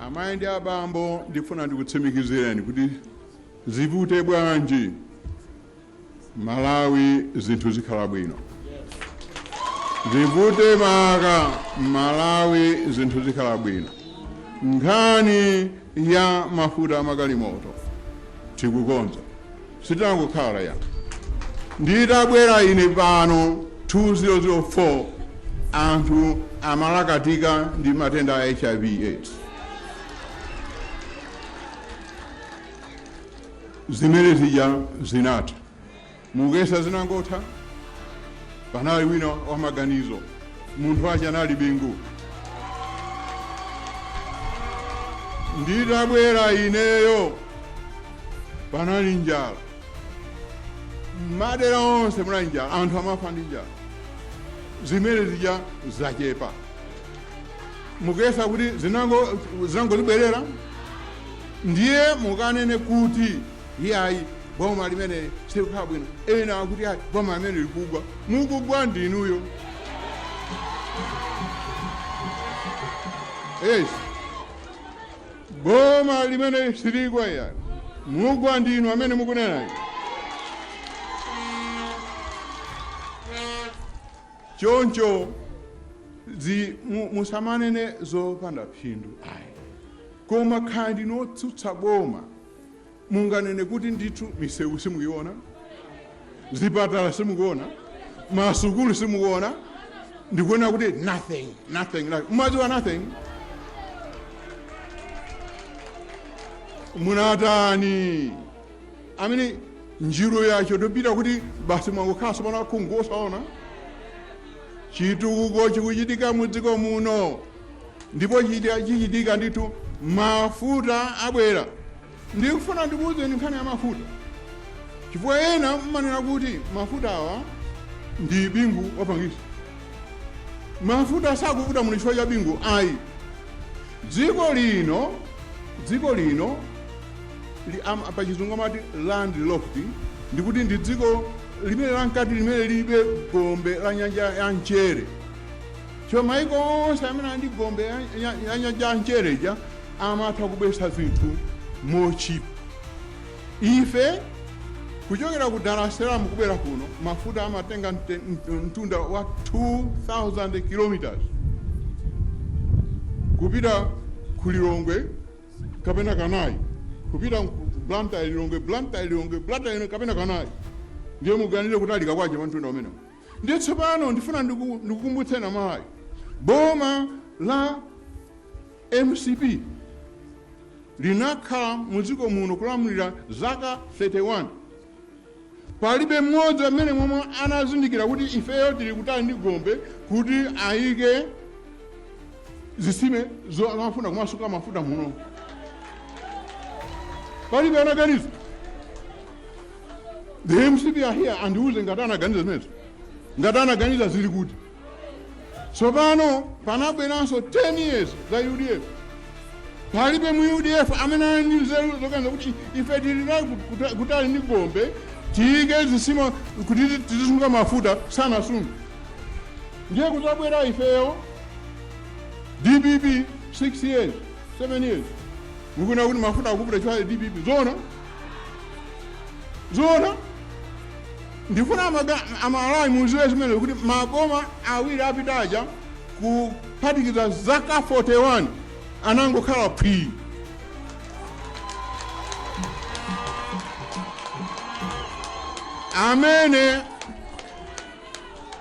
amayi ndi abambo ndifuna ndikutsimikizireni kuti zivute bwanji malawi zinthu zikhala bwino zivute maka malawi zinthu zikhala bwino nkhani ya mafuta a magalimoto tikukonza sitangokhala ya nditabwera ine pano 2004 anthu amalakatika ndi matenda a hiv aids zimene zija zinatha Muyesa zinangotha panali wina wa maganizo munthu wace anali bingu nditabwera ineyo panali njala mmadera onse munali njala anthu amafa ndi njala zimene zija zachepa muyesa kuti zinango- zinangozibwerera ndiye mukanene kuti iyayi boma limene silikukhala bwino ena akuti ayi boma limene likugwa mukugwa ndi inuyo yes boma limene siligwa iyayi mugwa ndi inu amene mukunenayo choncho zi- mu- musamanene zopanda phindu ayi koma nkhani ndinu otsutsa boma Munganene kuti ndithu misewu simuyiona, zipatala simukuona, masukulu simukuona, ndikuona kuti nothing, nothing, nothing. Mumadziwa nothing? Munatani? Amene njiru yachotopita kuti basi mwangokhala tsopano akhungu osaona chitukuko chikuchitika mu dziko muno Ndipo chita, chichitika ndithu, mafuta abwera. Ndikufuna ndikuwuzeni nkhani ya mafuta, chifukwa ena mmanena kuti mafuta awa ndi bingu wapangisa. Mafuta sakuvuta muno chifukwa cha bingu ayi. Dziko lino dziko lino li, am, pa chizungu amati landlocked, ndikuti ndi dziko limene lankati limene lilibe gombe la nyanja ya mchere Chifukwa maiko onse amene ali ndi gombe ya, ya, ya nyanja ya mchere ija amatha kubweretsa zinthu motchipa. Ife kuchokera ku Dar es Salaam kubwera kuno mafuta amatenga mte- mt- mtunda wa 2000 kilometers kupita ku Lilongwe kapena kanayi, kupita ku Blantyre Lilongwe Blantyre Lilongwe kapena kanayi ndiye muganire kutalika kwache pa mtunda umenewo Ndiye tsopano ndifuna ndiku, ndikukumbutseni aMalawi boma la MCP linakhala mu dziko muno kulamulira zaka 31 palibe mmodzi nnena omwe anazindikira kuti ifeyo tili kutali ndi gombe kuti ayike zisime zo- zofuna kumasunga mafuta muno palibe anaganiza The MCP are here andiuze ngati anaganiza zimenezo. Ngati anaganiza zili kuti. Tsopano panabweranso 10 years za UDF. Palibe mu UDF amene ali ndi nzeru zoganiza kuti ife tili nayo kuta- kutali ndi gombe tiyike zisime kuti tizi- tizisunga mafuta sanasunga. Ndiye kudzabwera ifeyo DPP 6 years 7 years mukuna kuti mafuta akupita chifukwa cha DPP zona zoona ndifuna amaga- aMalawi mudziwe zimenezo kuti maboma awiri apita aja kuphatikiza zaka 41 anangokhala phwii amene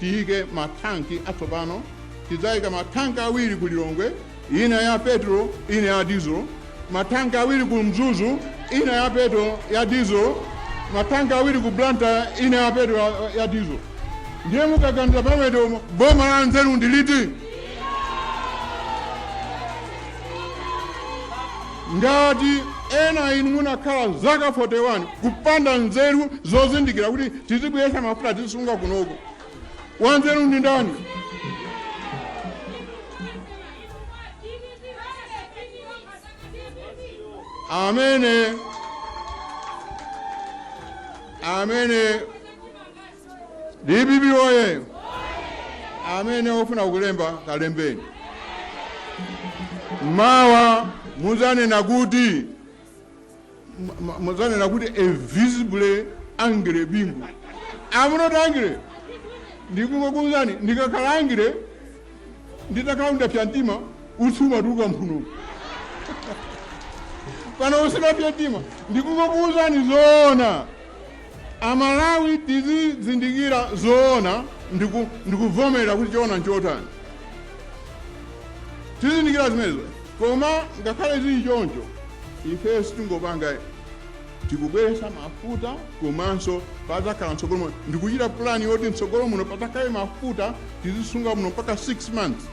Tiyike ma tank atsopano, tidzayika ma tank awiri ku Lilongwe, ina ya petrol ina ya diesel, ma tank awiri ku Mzuzu, ina ya petrol ya diesel, ma tank awiri ku Blantyre, ina ya petrol ya diesel. Ndiye mukaganiza pamenepo boma la nzeru ndi liti? Ngati ena a inu munakhala zaka 41 kupanda nzeru zozindikira kuti tizibweretsa mafuta tizisunga kunoko, wanzeru ndi ndani? Amene amene DPP oye! Amene ofuna kulemba kalembeni. Mawa muzanena kuti muzanena kuti a visibly angry Bingu. I'm not angry. Ndikukuuzani ndikakhala angry Nditakhala ndapsa mtima, utsi umatuluka mphuno. Pano usimatuluka mtima, ndikungokuwuzani zoona. Amalawi tizizindikira zoona ndiku- ndikuvomera kuti choona nchotani. Tizindikira zimenezo, koma ngakhale zili choncho, ifeyo sitingopanga tikubweretsa mafuta komanso padzakhala mtsogolo muno ndikuchita pulani yoti mtsogolo muno padzakhale mafuta tizisunga muno mpaka 6 months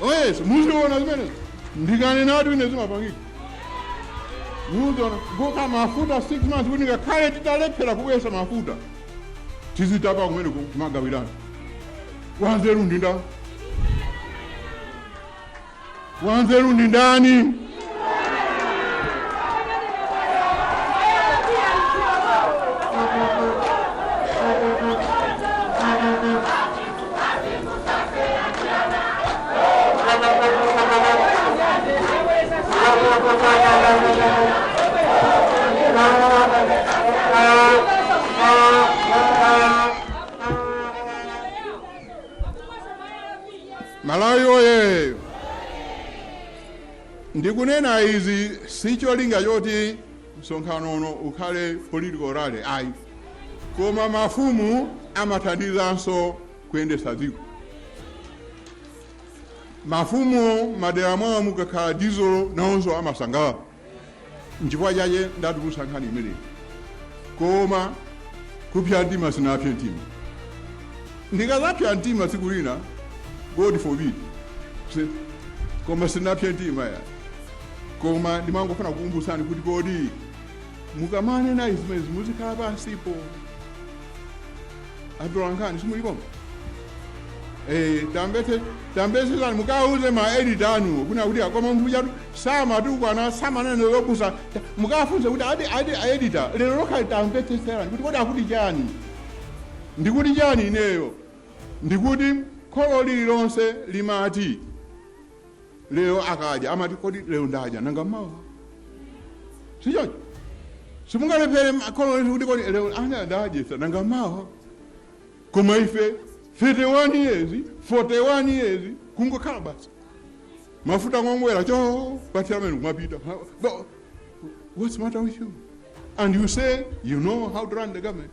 oyes muziona zimenezo ndikanenatu ine zimapangika muziona kuika mafuta 6 months kuti ngakhale titalephera kubweretsa mafuta tizitapa kumeneko kumagawirana wanzeru ndi nda Wanzeru ndi ndani? Malawi woyee! Ndikunena izi si cholinga choti msonkhano uno ukhale political rally ayi, koma mafumu amathandizanso kuyendetsa dziko. Mafumu madera mwawo mukakhala dizilo nawonso amasangalala. nchifukwa chache ndatulutsa nkhani imeneyi koma kupsa mtima sinapse mtima ndikazapsa mtima tsiku lina god forbid si- koma sinapse mtima ya koma ndimangofuna kukukumbutsani kuti kodi mukamanena izimezi muzikhala pansipo atolankhani simuli pompa eh, tamvetse tamvetsetsani mukauze ma edit anu kunja kuti akoma munthu uja tu samatukwana samanena zopusa mukafunse kuti adi adi editor lero lokha tamvetsetserani kuti kodi akuti chani ndikuti chani ineyo ndikuti kholo lililonse limati lero akadya amati kodi lero ndadya nanga mawa sichoncho simungalephere kholo lanu kuti kodi lero ana ndadyetsa nanga mawa koma ife 31 years 41 years kungokhala basi mafuta nkungomwera chopathira mmene kumapita Ha- no. what's the matter with you and you say you know how to run the government